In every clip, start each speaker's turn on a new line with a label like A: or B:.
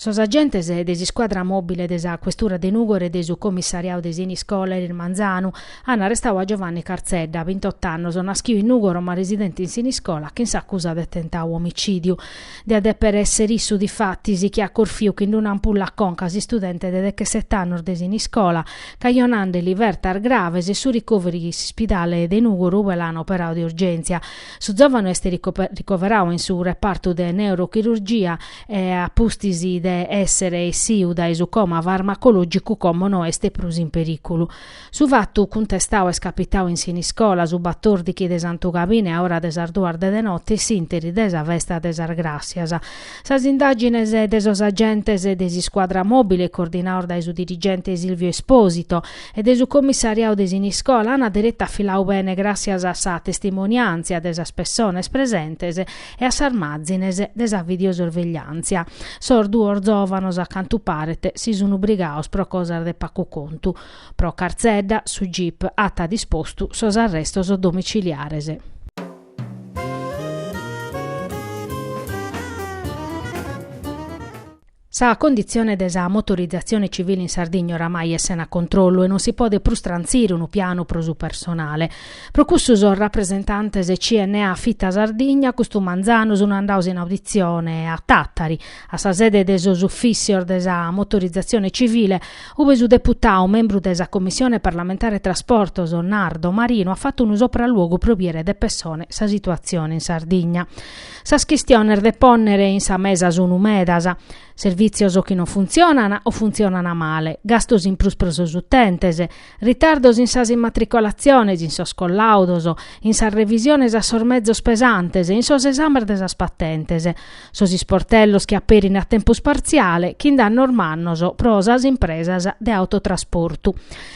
A: Sos agentes de s'iscuadra mòbile de sa questura de Nùgoro e de su comissariadu de Siniscola eris manzanu ant arrestadu a Giovanni Cartzedda, bintot'annos, naschidu in Nùgoro ma residente in Siniscola, chin s'acusa de tentadu omicìdiu. Diat deper esser issu difatis chi at corfiu chin d'una ampulla a conca s'istudente de dechesset'annos de Siniscola, cajonandeli fertas graves e su ricoveri in s'ispidale de Nùgoro ue l'an operau de urgèntzia. Su zòvanu est ricoverau in su repartu de neurochirurgia e a pustis de esser essiu dae su coma farmacològicu como no est prus in perìculu. Su fatu cuntestau est capitau in Siniscola, su batordichi de Santu Gabine a ora de sas duas de de notte s'interi de sa festa de sas Gràssias. Sas indàgines de sos agentes de s'iscuadra mòbile coordinaos dae su dirigente Silvio Esposito e de su commissariau de Siniscola ant deretu afilau bene gràssias a sa testimoniàntzia de sas pessones presentes e a sas màzines de sa videosorvegliàntzia. Sos duos zòvanos a cantu paret si sun brigaos pro cosas de pacu contu. Pro Cartzedda su gip at dispostu sos arrestos domiciliares. Sa conditzione de sa motorizatzione civile in Sardigna oramai est sena controllu e non si podet prus trantzire unu pianu pro su personale. Pro cussu sos rapresentantes de CNA Fita Sardigna custu manzanu sun andaos in auditzione a Tàtari, a sa sede de sos ufìssios de sa motorizatzione civile, Ube su deputau membru de sa Commissione parlamentare Trasportos, Nardo Marino, at fatu unu sopraluogu pro biere de pessone sa situatzione in Sardigna. Sas chistiones de pònnere in sa mesa sunu medas, servìtzios chi non funtzionan o funtzionan male, gastos in prus pro sos utentes, ritardos in sas immatricolatziones, in sos collàudos, in sas revisiones a sos mezos pesantes, in sos esames de sas patentes. Sos isportellos chi aperin a tempus partziale, chin dannos mannos pro sas impresas de autotrasportu.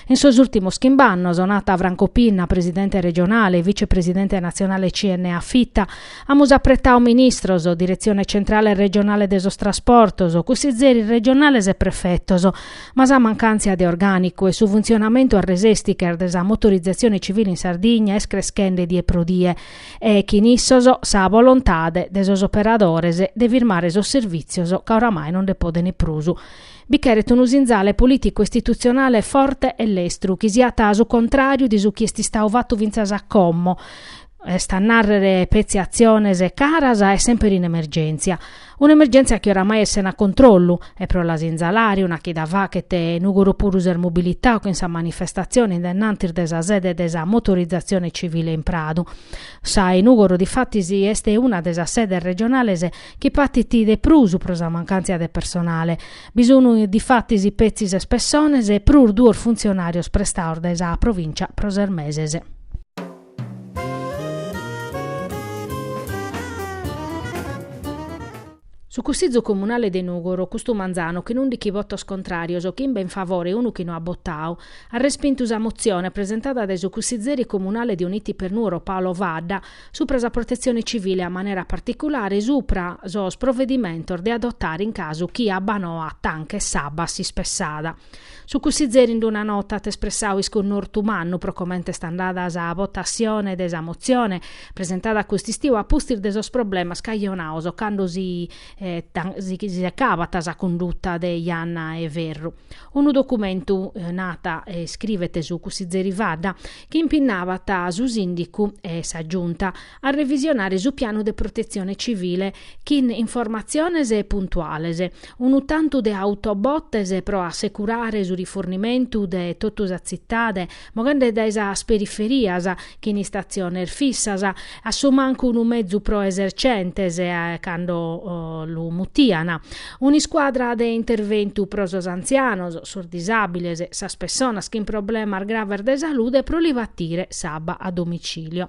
A: In sos ùltimos chimb'annos, nat Franco Pinna, presidente regionale e vicepresidente natzionale CNA Fita, amus apretau ministros, diretzione centrale e regionale de sos trasportos, cussizzeris regionales e prefetos, ma sa mancàntzia de orgànicu e su funtzionamentu a resèsticher de sa motorizatzione civile in Sardigna est creschende die pro die. e chin issos sa volontade de sos operadores de firmare sos servìtzios ca oramai non nde poden prus. Bi cheret unu sinzale polìticu istitutzionale forte e lestru chi siat su contràriu de su chi est istau fatu fintzas a como, est a nàrrere petzi atziones caras e semper in emergèntzia. Un'emergèntzia chi oramai est sena controllu, e pro la sinzalare una chida fachet Nùgoro puru s'est mobilitau chin sa manifestatzione in dennantis de sa sede de sa motorizatzione civile in Pradu. Sa 'e Nùgoro difatis est una de sas sedes regionales chi patit de prus pro sa mancàntzia de personale. Bi sun difatis petzi ses pessones prus duos funtzionàrios prestaos dae sa Provìncia pro ses meses. Su Cussizu Comunale de Nùgoro, custu manzanu chin ùndichi votos contràrios, chimbe in favore e unu chi no at botau, at respintu sa motzione presentada dae su cussizeri comunale de Uniti per Nuoro Paolo Fadda supra sa Protetzione Civile a manera particulare supra sos provedimentos de adotare in casu chi abba noa manchet s'abba a s'ispessada. Su Cussizeri in d-una nota at espressau isconnortu mannu pro comente est andada sa votatzione de sa motzione presentada a cust'istiu a pustis de sos problemas cajonaos cando si secabat sa cunduta de Janna 'e Ferru. Unu documentu, nat a iscrivet su Cussizeri Fadda, chi impinnabat su Sìndicu e sa Giunta a revisionare su pianu de protetzione civile chin informatziones puntuales, unu tantu de autobottes pro assecurare su rifornimentu de totu sa tzitade, moghende dae sas periferias chin istatziones fissas, a su mancu unu mezu pro esercentes cando lu mutian, un'iscuadra de interventu pro sos antzianos, sos disàbiles, sas pessonas chin problemas graves de salude pro li batire s'abba a domicilio.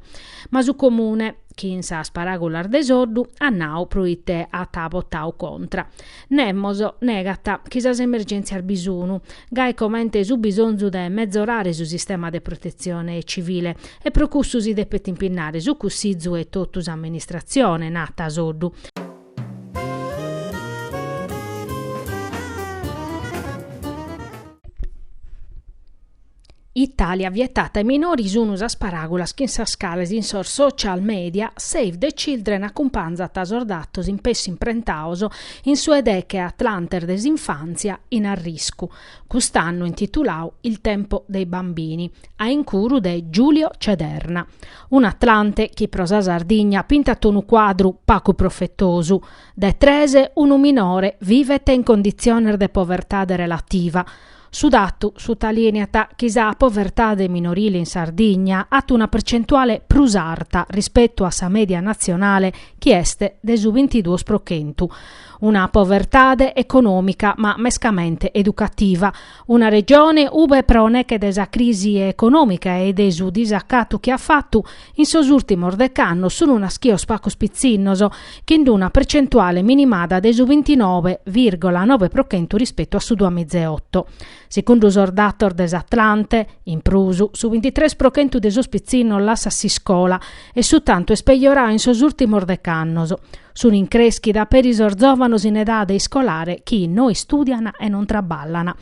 A: Ma su Comune, chi in sas paràgulas de Soddu at nau pro ite at votau contra, nemos, negat chi sas emergèntzias bi sunu, gai comente su bisonzu de metzorare su sistema de protetzione civile, e pro cussu si depet impinnare su Cussizu e totu s'amministratzione, nat Soddu. Italia vietata ai minori sunu sas paràgulas chin sas cales in sos social media Save the Children acumpanzat sos datos in pessu imprentaos in su 'e deche atlantes de s'infàntzia in arriscu, cust'annu intitulau Il tempo dei bambini, a incuru de Giulio Cederna. Un'atlante chi pro sa Sardigna pintat unu cuadru pacu profetosu, de tres unu minore vivet in conditziones de povertade relativa, Su datu sutalìneat chi sa povertade minorile in Sardigna at una percentuale prus arta rispetu a sa mèdia natzionale chi est de su bintiduos pro chentu. Una povertade econòmica ma mescamente educativa. Una Regione ube pro neche de sa crisi econòmica e de su disacatu chi at fatu In sos ùrtimos dec'annos sun nàschios pacos pitzinnos, chin d'una percentuale minimada de su bintinove vìrgola nove pro chentu rispetu a su duamizeoto. Segundu sos datos de s'Atlante, in prus, su bintitres pro chentu de sos pitzinnos lassat s'iscola e su tantu est pejorau in sos ùrtimos dec'annos. Sun in crèschida peri sos zòvanos in edade iscolare chi no istùdian e non traballan.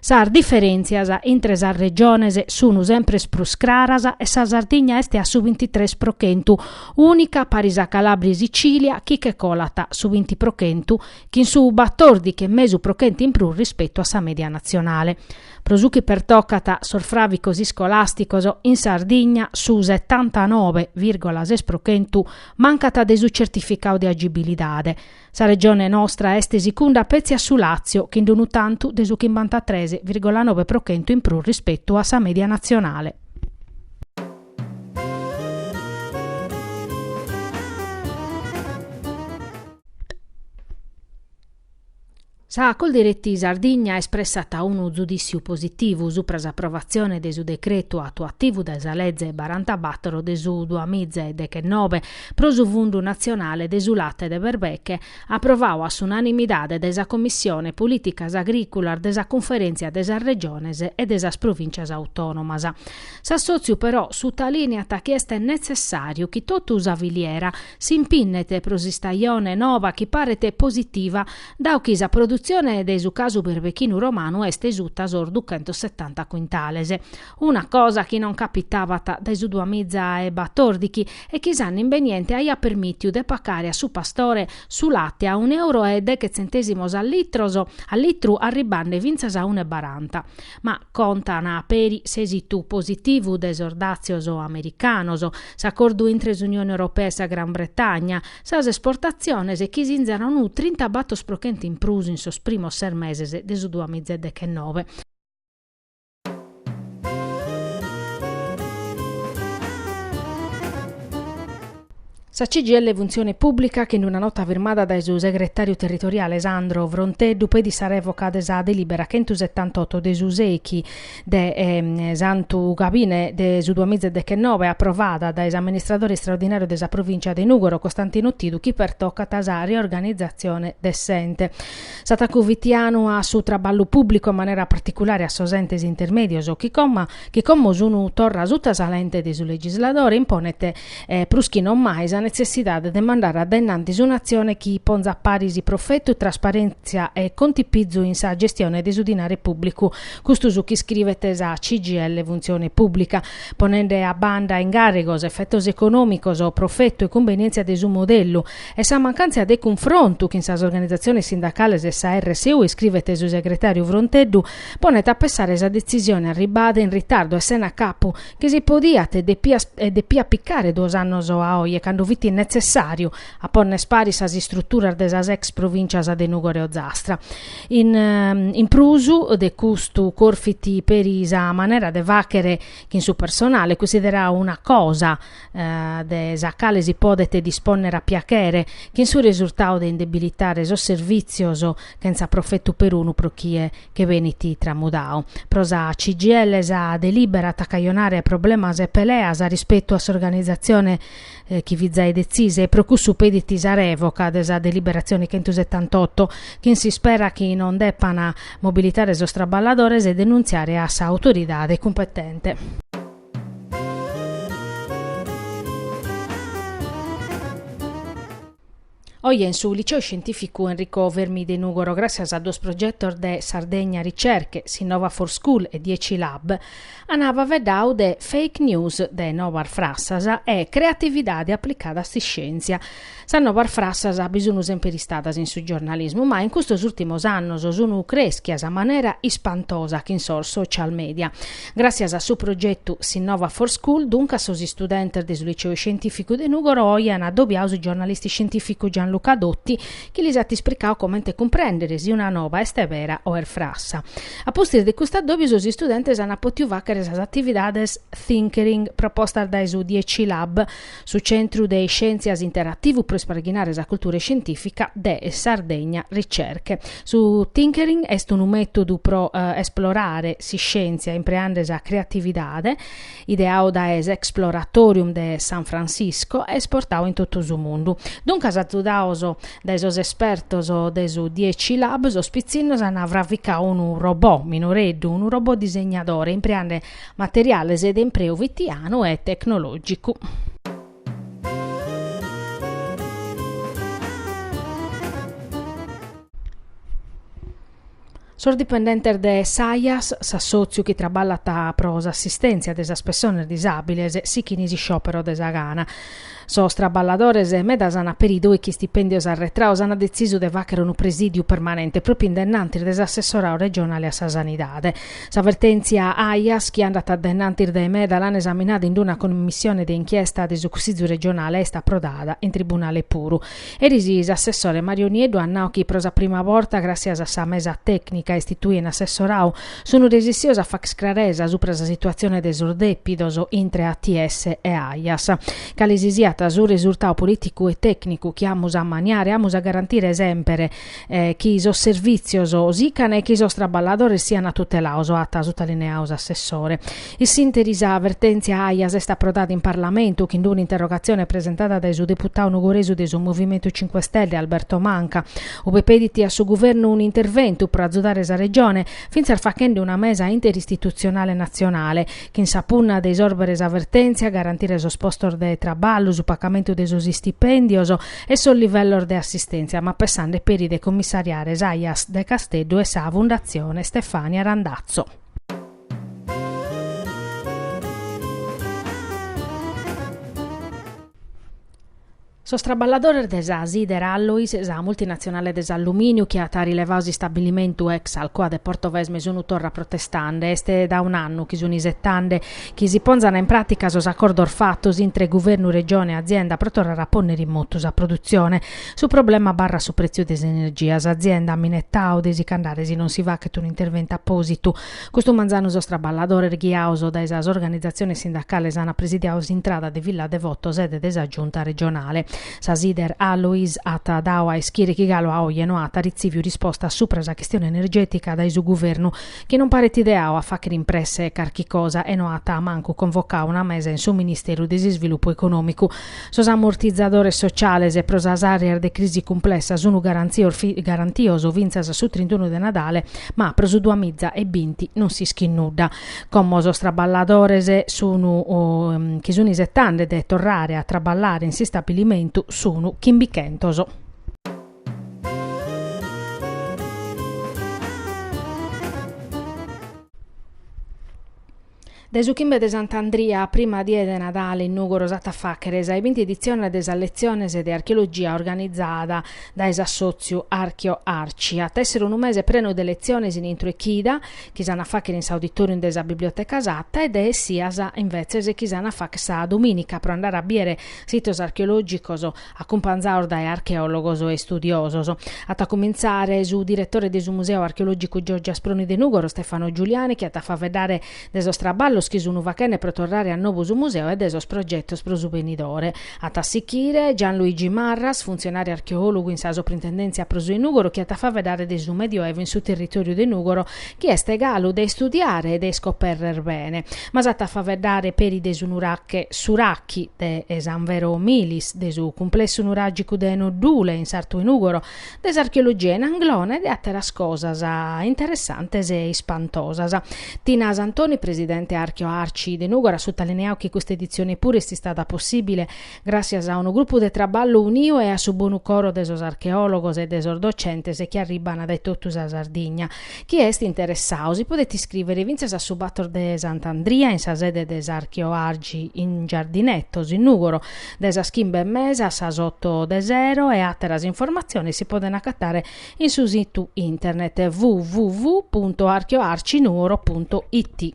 A: Sas diferèntzias intre sas regiones sun sempres prus craras e sa Sardigna est a su bintitres pro chentu, ùnica paris a Calàbria e Sicìlia chi che colat su binti pro chentu, chin su batòrdichi e mesu pro chentu in prus rispetu a sa mèdia natzionale. Pro su chi pertocat sos fràvicos iscolàsticos, in Sardigna su setantanove vìrgola ses pro chentu mancat de su tzertificadu de agibilidade, Sa regione nostra est sicunda petzi a su Làtzio, chin d'unu tantu de su chimbantatres vìrgola nobe pro chentu in prus rispetu a sa mèdia natzionale. Sa Coldiretti Sardigna espressat unu zudìtziu positivu supra s'aprovatzione de su decretu atuativu de sa leze barantabàtoro de su duamiza e dechenobe pro su Fundu natzionale de su late de berbeche, aprovau a s'unanimidade de sa Commissione Polìticas Agrìculas de sa Cunferèntzia de sas Regiones e de sas Provìntzias Autònomas. S'assòtziu però sutalìneat chi est netzessàriu chi totu sa filiera s'impinnet pro s'istajone nova chi paret positiva Dau chi sa produtzione de su casu berbechinu romanu est suta sos duchentosetanta cuintales, una cosa chi non capitabat dae su duamiza e batòrdichi e chi s'annu imbeniente aiat permìtiu de pacare a su pastore su late a un'euro e deghe tzentèsimos a litros a litru arribande fintzas a un'e baranta. Ma contan peri s'èsitu positivu de sos dàtzios americanos, s'acordu intre s'Unione Europea e sa Gran Bretagna, Sas esportatziones chi sinzan unu trintabator pro chentu in prus in sos primos ses meses de su duamiza e dechenove, Sa CGIL Funtzione Pùblica, chin d'una nota firmada dae su segretàriu territoriale Sandro Fronteddu, petit sa rèvoca de sa delìbera chentusetantotto de su sèichi de Santu Gabine de su duamiza e dechenobe, aprovada dae s'amministradore istraordinàriu de sa provìntzia de Nùgoro, Costantino Tidu, chi pertocat sa riorganizatzione de s'ente. S'atacu fitianu a su traballu pùblicu, in manera particulare a sos entes intermèdios, chi coma chi como sun torra suta sa lente de su legisladore, imponet e prus chi non mai sa netzessidade de mandare a dae in antis un'atzione chi ponzat paris profetu, trasparèntzia e contipizu in sa gestione de su dinare pùblicu, custu su chi iscrivet sa CGIL Funtzione Pùblica, ponende a banda incàrrigos, efetos econòmicos, profetu e cumbenièntzia de su modellu, e sa mancàntzia de cunfrontu chin sas organizatziones sindacales e sa RSU, iscrivet su segretàriu Fronteddu, ponet a pensare sa detzisione arribbada in ritardu e sena capu, chi si podiat e depiat picare duos annos a oje cando fit netzessàriu a ponner paris sas istruturas de sas ex provìncias de Nùgoro e Ozastra. In prus de custu corfit peri sa manera de fàghere chin su personale, cunsiderau una cosa de sa cale si podet dispònnere a piaghere, chin su resurtau de indebilitare sos servìtzios chentza profetu perunu pro chie che benit tramudau. Pro sa CGIL sa delibera at a cajonare problemas e peleas rispetu a s'organizatzione chi fit zai detzisa e pro cussu pedit sa revoca de sa deliberatzione chentu setantotto, chin s'ispera chi non depan mobilitare sos traballadores e denuntziare a sa autoridade cumpetente. Oje in su Liceu Scientificu Enrico Fermi de Nugoro, gràtzias a duos progetos de Sardegna Ricerche, Sinnova for School e Dieci Lab, ana faveddau de Fake News de nobas frassas e Creatividade aplicada a s'iscièntzia. Sas nobas frassas bi sunu semper istadas in su giornalismu, ma in custos ùrtimos annos sunu crèschias a manera ispantosa chin sos social media. Gràtzias a su progetu Sinnova for School, duncas, sos istudentes de su Liceu Iscientìficu de Nùgoro oe an adobiau su giornalista iscientìficu Gianluca Dotti chi lis at isplicau comente cumprèndere si una noba est bera o est frassa. A pustis de custu adòbiu sos istudentes ant pòtiu fàghere sas atividades Tinkering propostas dae su Dieci Lab, Su Centru de Iscièntzias Interativu pro isparghinare sa cultura iscientìfica de Sardegna Ricerche. Su Tinkering est unu mètodu pro esplorare s'iscièntzia impreende sa creatividade, ideau dae s'Exploratorium de San Francisco e esportau in totu su mundu. Duncas, azudaos dae sos espertos de su Dieci Lab, sos pitzinnos ant fravicau unu robot minoreddu, unu robot disegnadore, impreende Materiales de impreu fitianu e tecnològicu. Sos dipendentes de s'AIAS, s'assòtziu chi traballat pro s'assistèntzia de sas pessones disàbiles, sichint s'isciòperu de sa gana. Sos traballadores medas an peri dòichi istipèndios arretrados an detzisu de fàghere unu presìdiu permanente pròpiu in dennantis de s'assessoradu regionale a sa sanidade. Sa vertèntzia Aias, chi andat a dennantis dae meda, l'an esaminada in una comissione de inchiesta de su Cussìgiu regionale e est aprodada in tribunale puru. Eris s'assessore Mario Nieddu at nau chi pro sa prima borta, gràssias a sa mesa tècnica istituida in assessoradu, Sun resessios a fàghere craresa supra sa situazione de sos depidos intre ATS e Aias. Cale si siat su resurtau politicu e tecnicu chi amus a maniare, amus a garantire semper chi sos servizios sican e chi sos traballadores sian tutelados, at sutalineau s'assessore. In s'interi sa vertèntzia Aias est aprodada in Parlamentu chin d'una interrogatzione presentada dae su deputadu nugoresu de su Movimentu Cinque Stelle Alberto Manca, ue pedit a su Guvernu un'interventu pro azudare sa Regione, fintzas faghende una mesa interistitutzionale natzionale, chin sa punna de isòrbere sa vertèntzia, garantire sos postos de traballu, su pagamentu de sos istipèndios e sos livellos de assistèntzia, ma pessande peri de commissariare s'Aias de Casteddu e sa Fundatzione Stefania Randazzo. Sos traballadores de sa Sider Alloys, sa multinatzionale de s'allumìniu chi at rilevadu s'istabbilimentu ex Alcoa de Portovesme sunt torra protestande. Est dae un'annu chi sunt isetande chi si ponzan in pràtica sos acordos fatos intre guvernu, Regione e azienda pro torrare a pònnere in motu sa produtzione. Su problema abarrat su prètziu de s'energia. S'azienda at minetadu de si ch'andare si non si faghet un'interventu apòsitu Custu manzanu sos traballadores ghiados dae sas organizatziones sindacales ant presidiadu s'intrada de Villa Devoto sede de sa Giunta regionale. Sa Sider Alloys at dadu a ischire chi galu a oje no at ritzìviu risposta subra sa chistione energètica dae su guvernu, chi non paret ideadu a fàghere in presse carchi cosa e no at mancu convocadu una mesa in su Ministeru de s'Isvilupu Econòmicu. Sos amortizadores sociales pro sas àreas de crisi cumplessa sun garantios fintzas a su trintunu de Nadale, ma pro su duamiza e binti non s'ischit nudda. Como sos traballadores sun chi sun isetande de torrare a traballare in s'istabilimentu sun chimbichentos. Dae su chimbe de Sant'Andria a prima die de Nadale in Nùgoro s'at a fàghere sa 'e binti editzione de sas letziones de archeologia organizada dae s'assòtziu Archeo Arci. At a èssere unu mese prenu de letziones in intro 'e chida, chi s'an a fàghere in s'auditòrium de sa Biblioteca Satta e de essias, imbetzes, chi s'an a fàghere sa domìnica pro andare a bìdere sitos archeològicos acumpanzaos dae archeòlogos e istudiosos. At a cumintzare su diretore de su Museu Archeològicu Giorgi Asproni de Nùgoro, Stefano Giuliani, chi at a faveddare de sos traballos chi sun fachende pro torrare a nobu su museu e de sos progetos pro su benidore. At a sichire Gianluigi Marras, funtzionàriu archeòlogu in sa Soprintendèntzia pro su 'e Nùgoro, chi at a faveddare de su Medioevu in su territòriu de Nùgoro chi est galu de istudiare e de iscoperrer bene, ma s'at a faveddare peri de su nurache S'Urachi de San Vero Milis, de su cumplessu nuragicu de Noddule in sartu 'e Nugoro, de s'archeologia in Anglona e de àteras cosas interessantes e ispantosas. Tina Santoni, presidente Archeoarci de Nugoro, at sutalineau chi custa editzione puru est istada possìbile, gràtzias a unu grupu de traballu uniu e a su bonu coro de sos archeòlogos e de sos docentes chi arribban dae totu sa Sardigna. Chie est interessadu si podet iscrìvere fintzas a su bator de Sant'Andria in sa sede de s'Archeoarci in Giardinetos, in Nùgoro, dae sas chimbe e mesa a sas oto de sero e àteras informatziones si podent agatare in su situ internet www punto archeoarcinuoro punto it.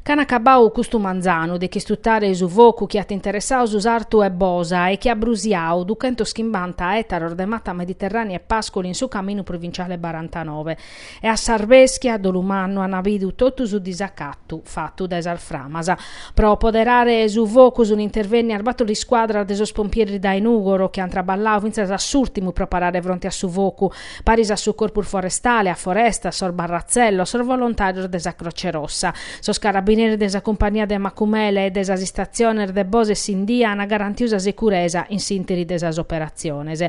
A: Ch'an acabau custu manzanu de ch'istutare su focu chi at interessau su sartu 'e Bosa e chi at brusiau duchentos chimbanta ètaros de mata mediterrània e pàsculu in su caminu provinciale barantanove, e a s'arbèschia a dolu mannu an bidu totu su disacatu fatu dae sas framas. Pro poderare su focu sun intervennias bator iscuadras de sos pompieris dae Nùgoro chi an traballau fintzas a s'ùrtimu pro parare fronte a su focu, paris a su Corpus Forestale, a Forestas, sos barratzellos, sos volontàrios de sa Croce Rossa, sos carabineris de sa cumpagnia de Macumele e de sas istatziones de Bosa e Sindia an garantiu sa securesa in s'ìnteri de sas operatziones.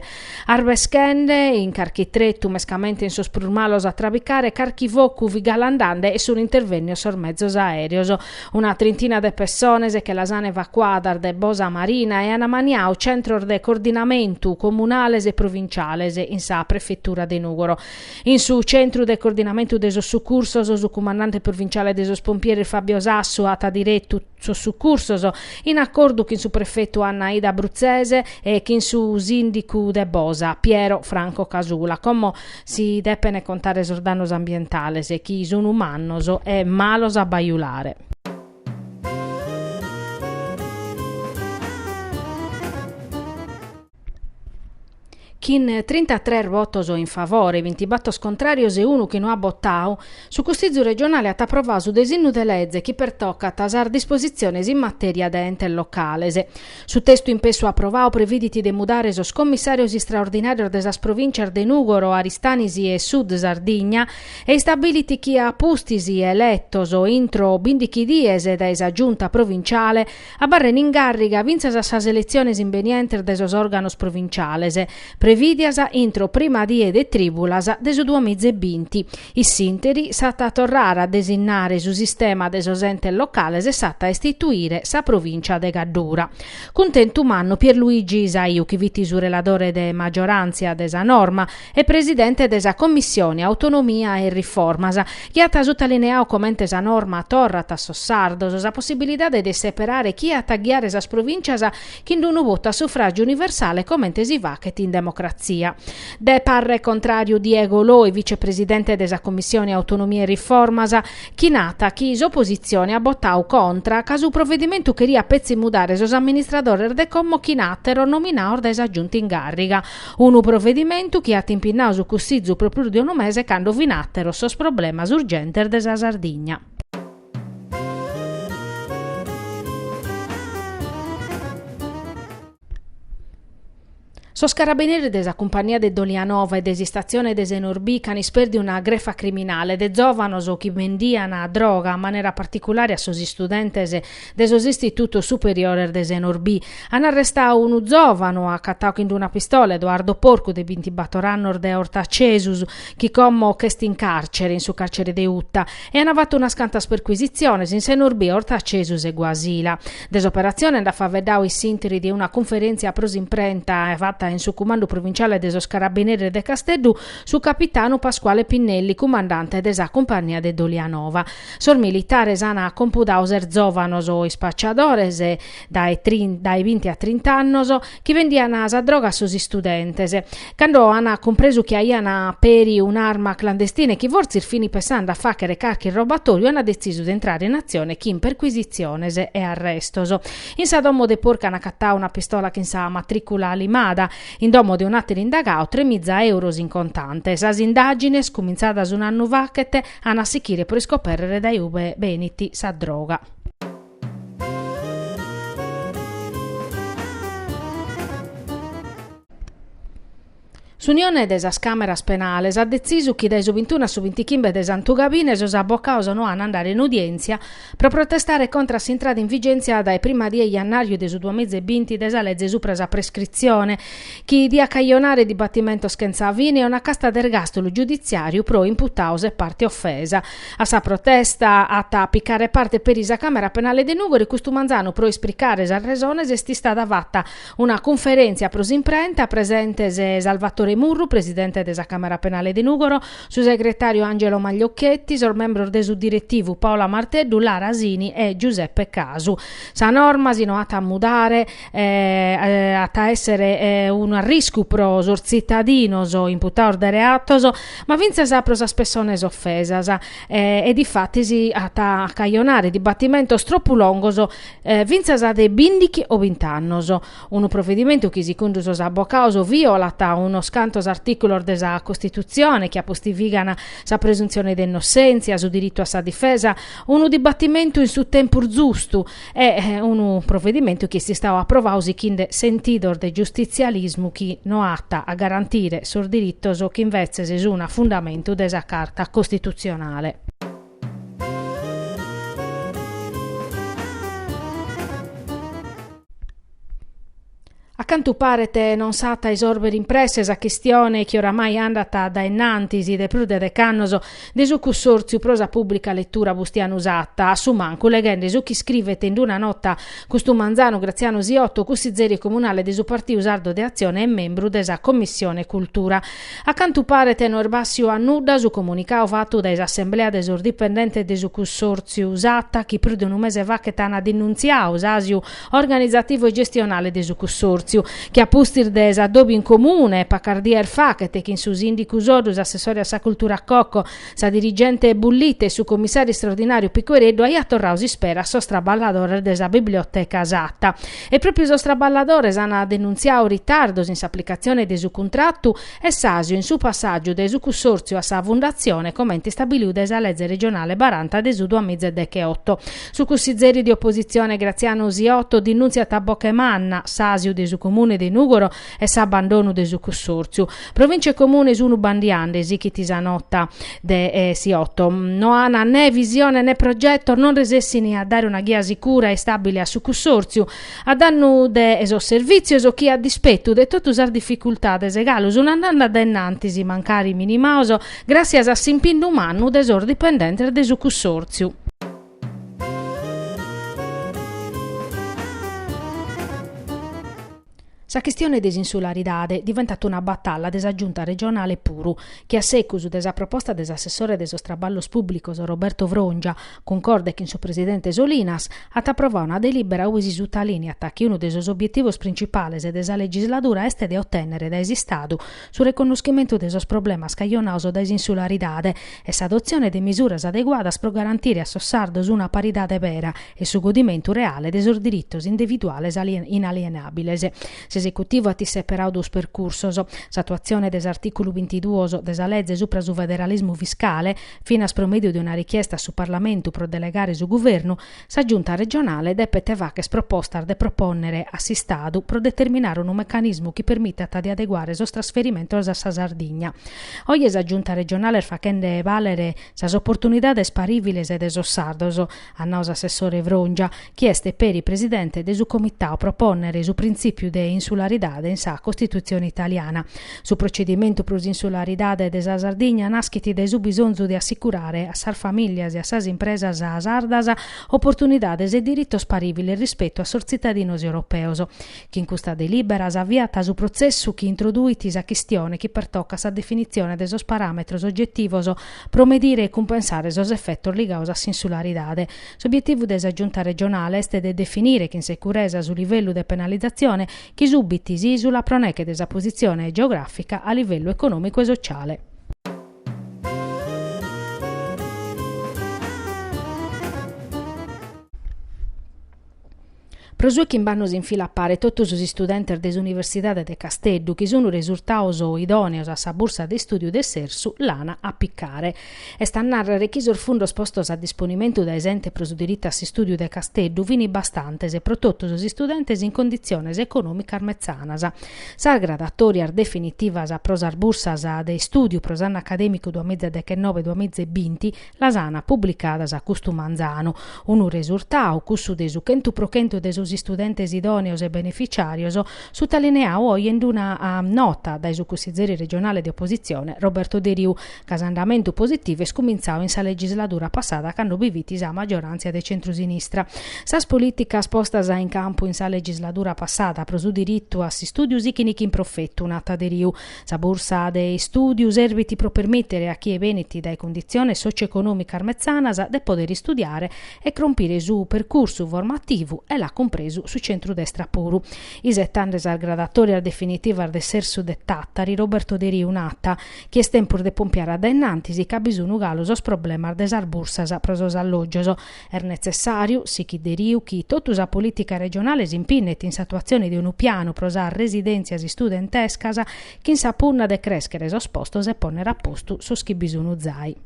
A: Arbeschende in carchi tretu, mescamente in sos prus malos, a trabicare carchi focu fit galu andande e sun intervennios sos mezos aereos. Una trintina de pessones che las an evacuadas de Bosa Marina e an ammaniau centros de cordinamentu comunales e provinciales in sa prefetura de Nùgoro. In su centru de cordinamentu de sos sucursos, su cumandante provinciale de sos pompieres Fabio Sassu at diretu, sos sucursos, in acordu chin su prefetu Anna Aida Bruzzese e chin su sìndicu de Bosa, Piero Franco Casula, como si depene contare sos dannos ambientales, chi sunu mannos e malos a bajulare. Chin trintatres votos in favore, bintibatos contràrios e unu chi no at botadu, su Cussizu regionale at aprovadu su desinnu de leze chi pertocat a sas dispositziones in matèria de entes locales. Su testu impessu aprovadu previdit de mudare sos commissàrios istraordinàrios de sas provìntzias de Nùgoro, Aristanis e Sud Sardigna e istabilit chi a pustis eletos intro bindighi dies dae sa Giunta provintziale Abarren in càrriga fintzas a sas eletziones imbenientes de sos òrganos provinciales, prevìdias intro prima die de trìbulas de su duamiza e binti. In s'interi s'at a torrare a desinnare su sistema de sos entes locales e s'at a istituire sa provìncia de Caddura. Cuntentu mannu Pierluigi Saiu chi fit su reladore de magioràntzia de sa norma, e presidente de sa Commissione Autonomia e Riformas, chi at sutalineadu comente sa norma torrat a sos sardos sa possibilidade de seperare chie at a ghiare sas provìncias chind unu votu a sufràgiu universale comente si faghet in democratzia. De parre contràriu Diego Loi, vicepresidente de sa Commissione Autonomia e Riformas, chi narat chi s'opositzione at botadu contra ca su provedimentu cheriat petzi mudare sos amministradores de como chin àteros nominados dae sa Giunta in càrriga, Unu provedimentu chi at impinnadu su Cussizu pro prus de unu mese cando fin àteros sos problemas urgentes de sa Sardigna. Sos carabineris de sa Cumpagnia de Dolianova e de s'istatzione de Senorbì ch'an ispèrdiu una grefa criminale de zòvanos chi bendian droga in manera particulare a sos istudentes de sos istitutos superiores de Senorbì. An arrestadu unu zòvanu acatadu chin una pistola, Edoardo Porcu, de bintibator annos de Ortacesus, chi como ch'est in càrcere, in su càrcere de Uta, e an fatu unas cantas percuisitziones in Senorbì, Ortacesus e Guasila. De s'operatzione nd'at faeddadu in s'interi de una cunferèntzia pro s'imprenta fata in su cumandu provinciale de sos Carabineres de Casteddu su capitanu Pasquale Pinnelli, cumandante de sa Cumpagnia de Dolianova. Sos militares an compudadu ses zòvanos ispacciadores, dae binti a trint'annos, chi vendian sa droga a sos istudentes. Cando an cumpresu chi aian peri un'arma clandestina e chi fortzis fin pensende a fàghere carchi robatòriu an detzisu de intrare in atzione chin percuisitziones e arrestos. In sa domo de Porcu an acatadu una pistola chin sa matrìcula limada. In domo de un'àteru indagadu, tremiza euros in contante. Sas indàgines, cumintzadas un'annu faghet, An a sichire pro iscoperrere dae ue benit sa droga. S'Unione de sas Càmeras Penales at detzisu chi dae su bintunu a su bintichimbe de Santugabine sos abocados no an a andare in udièntzia pro protestare contra a s'intrada in vigèntzia dae prima die 'e jannàriu de su duas miza e binti de sa lege supra sa prescritzione, chi diat cajonare dibatimentos chentza fine e una casta de ergàstulu giuditziàriu pro imputados e parte ofesa. A sa protesta at a picare parte peri sa Càmera Penale de Nùgoro, custu manzanu pro ispricare sas resones est istada fata una cunferèntzia pro s'imprenta, presentes Salvatore Murru, presidente de sa Càmera Penale de Nùgoro, su segretàriu Angelo Magliocchetti, sos membros de su diretivu Paola Marteddu, Lara Sini e Giuseppe Casu. Sa norma, si no at a mudare, eh, at a èssere eh, unu arriscu pro sos tzitadinos imputados de reatos, ma fintzas pro sas pessones ofesas, eh, e difatis at a cajonare dibatimentos tropu longos, eh, fintzas de bìndighi o bint'annos. Unu provedimentu chi segundu sos abocados violat unos cantos artìculos de sa Costitutzione chi apostifigant sa presuntzione de innossèntzia, su diritu a sa difesa, unu dibatimentu in su tempus zustu e unu provedimentu chi est istadu aprovadu sighinde sentidos de giustitzialismu chi no at a garantire sos diritos chi invetzes sunt a fundamentu de sa Carta Costitutzionale. A cantu paret non s'at a isorbere in presse sa chistione chi oramai andat dae innantis de prus de dec'annos de su Cussòrtziu pro sa pùblica letura Bustianu Satta, a su mancu, leghende su chi iscrivet in una nota custu manzanu Graziano Siotto, cussizeri comunale de su Partiu Sardu de Atzione e membru de sa Commissione Cultura. A cantu paret no est bàssiu a nudda su comunicau fatu dae s'assemblea de sos dipendentes de su cussòrtziu Satta chi prus de unu mese faghet ant dinuntziau s'àsiu organizativu e gestionale de su cussòrtziu chi a pustis de s'adobi in comune pacas dies faghet chin su sìndicu Soddu, s'assessore a sa cultura Cocco, Sa dirigente Bullitta e su commissàriu istraordinàriu Piquereddu aiat torradu s'ispera a sos traballadores de sa biblioteca Satta. E pròpiu sos traballadores ant denuntziadu ritardos in s'aplicatzione de su cuntratu e s'àsiu in su passàgiu dae su cussòrtziu a sa fundatzione comente istabilidu dae sa lege regionale baranta de su duas miza e decheoto. Su cussizeri de opositzione Graziano Siotto dinùntziat a boche manna s'àsiu de su Comune de Nùgoro e s'abbandonu de su cussòrtziu. Provìntzia e Comune sunu bandiande, sighit sa nota de Siotto. No ant ne visione ne progetos, non resessini a dare una ghia sicura e istàbile a su cussòrtziu, a dannu de sos servìtzios chi a dispetu de totu sas dificultades galu sunt andende dae innantis, mancari minimados, gràssias a s'impinnu mannu de sos dipendentes de su cussòrtziu. Sa chistione de s'insularidade diventat una batalla de sa Giunta regionale puru, chi a secus de sa proposta de s'assessore de sos traballos pùblicos Roberto Frongia, cuncorde chin su presidente Solinas, at aprovadu una delìbera ue si sutalineat chi unu de sos obietivos printzipales de sa legisladura est de otènnere dae s'Istadu su reconnoschimentu de sos problemas cajonados dae s'insularidade e s'adotzione de misuras adeguadas pro garantire a sos sardos una paridade vera e su godimentu reale de sos diritos individuales inalienabiles. S'esecutivu at isseperadu duos percursos, s'atuatzione de s'artìculu bintiduos de sa lege supra su federalismu fiscale, finas pro mèdiu de una richiesta a su Parlamentu pro delegare su Guvernu, Sa Giunta regionale depet fagher propostas de propònnere a s'Istadu pro determinare unu mecanismu chi permitat de adeguare sos trasferimentos a sa Sardigna. Oje sa Giunta regionale est faghende bàlere sas oportunidades parìviles de sos sardos, at nau s'assessore Frongia, chi est peri presidente de su Comitadu, propònnere su printzìpiu de insularidade in sa Costitutzione italiana. Su procedimentu pro s'insularidade de sa Sardigna naschit dae su bisonzu de assicurare a sas famìlias e a sas impresas sardas oportunidades e diritos parìviles rispetu a sos tzitadinos europeos. Chin custa delìbera s'aviat su protzessu chi introduit sa chistione chi pertocat sa definitzione de sos paràmetros ogetivos pro medire e cumpensare sos efetos ligados a s'insularidade. S'obietivu de sa Giunta regionale est de definire chin seguresa su livellu de penalizatzione chi subit s'ìsula pro neche de sa positzione geogràfica a livellu econòmicu e sociale. Pro su 'e chimbe annos in fila a pare totu sos istudentes de s'Universidade de Casteddu chi sun resurtados idòneos a sa bursa de istùdiu de s'Ersu l'an a picare. Est a nàrrere chi sos fundos postos a disponimentu dae s'Ente pro su diritu a s'istùdiu de Casteddu fin bastantes pro totu sos istudentes in conditziones econòmicas metzanas. Sas gradatòrias definitivas pro sas bursas de istùdiu pro s'annu acadèmicu duas mìgia deghenove-duas mìgia e binti las an publicadas custu manzanu, unu resurtadu, cussu de su chentu pro chentu de sos istudentes idòneos e benefitziàrios, sutalineadu oe in una nota dae su cussizeri regionale de opositzione Roberto Deriu, ca s'andamentu positivu est cumintzadu in sa legisladura passada cando bi fit sa maggioràntzia de centrusinistra. Sas polìticas postas in campu in sa legisladura passada pro su diritu a s'istùdiu sighint chin profetu, nat Deriu. Sa bursa de istùdiu serbit pro permìtere a chie benit dae cunditziones sòcioeconòmicas metzanas de pòdere istudiare e crompire su percursu formativu e l'at cumpresu su centrudestra puru. Isetende sas gradatòrias definitivas de s'Ersu de Tàtari, Roberto Deriu nat, chi est tempus de pompiare a dae innantis ca bi sun galu sos problemas de sas bursas pro sos allògios. Est netzessàriu, sichit Deriu, chi totu sa polìtica regionale s'impinnet in s'atuatzione de unu pianu pro sas residèntzias istudentescas chin sa punna de crèschere sos postos e pònnere a postu sos chi bi sun zai.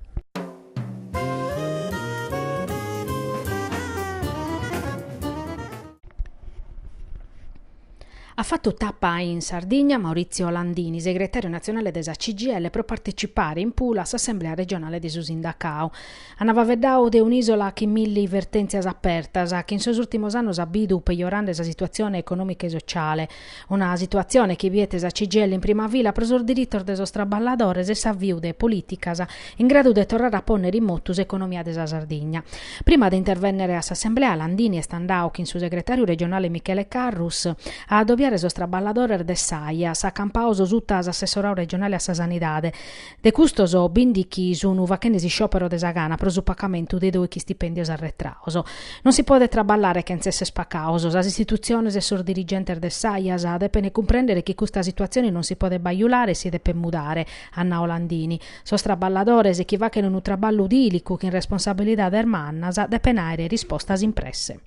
A: At fatu tapa in Sardigna Maurizio Landini, segretàriu natzionale de sa CGIL pro partecipare in Pula a s'assemblea regionale de su sindacau. Ant faveddau de un'ìsola chin milli vertèntzias apertas, chi in sos ùrtimos annos at bidu pejorende sa situatzione econòmica e sotziale. Una situatzione chi biet sa CGIL in prima fila pro sos diritos de sos traballadores e s'aviu de polìticas in gradu de torrare a pònnere in motu s'economia de sa Sardigna. Prima de intervènnere a s'assemblea, Landini est andadu chin su segretàriu regionale Michele Carrus a adobiare sos traballadores de s'Aias, acampados suta s'assessoradu regionale a sa Sanidade, de custos bìndighi sun faghende s'isciòpero de sa gana pro su pagamentu de doighi stipèndios arretrados. Non si podet traballare chentz èssere pagados. Sas istitutziones e sos dirigentes de s'Aias depent cumprèndere chi custa situatzione non si podet bajulare e si depet mudare, at nau Landini, sos traballadores chi fachent unu traballu tìlicu chin responsabilidades mannas depent àere rispostas in presse.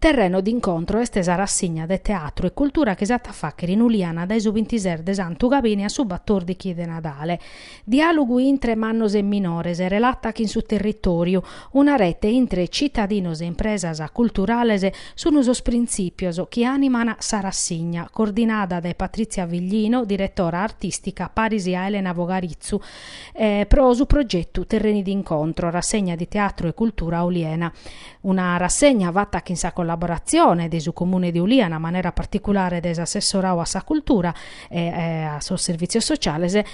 A: Terreni d'incontro est sa rassigna de teatru e cultura chi s'at a fàghere in Uliana dae su bintises de Santu Cabini a su batòrdighi de Nadale. Diàlogu intre mannos e minores, relata chin su territòriu, una rete intre citadinos e impresas culturales sun sos printzìpios chi àniman sa rassigna, coordinada dae Patrizia Viglino, diretora artìstica paris a Elena Vogarizzu, pro su progetu Terreni d'incontro, rassegna di teatro e cultura Oliena. Una rassegna fata chin sa collaboratzione de su Comune de Uliana, a manera particulare dae s'assessoradu a sa cultura, e a sos servìtzios sociales e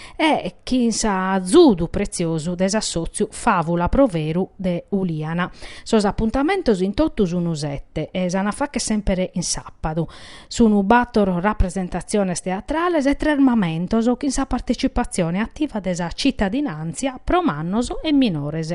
A: chin s'azudu pretziosu de s'assòtziu Fàvula pro Veru de Uliana. Sos apuntamentos in totu sun sete e s'an a fàghere semper in sàpadu. Sun bàtor rapresentatziones teatrales e tres mamentos chin sa partetzipatzione ativa de sa tzitadinàntzia pro mannos e minores.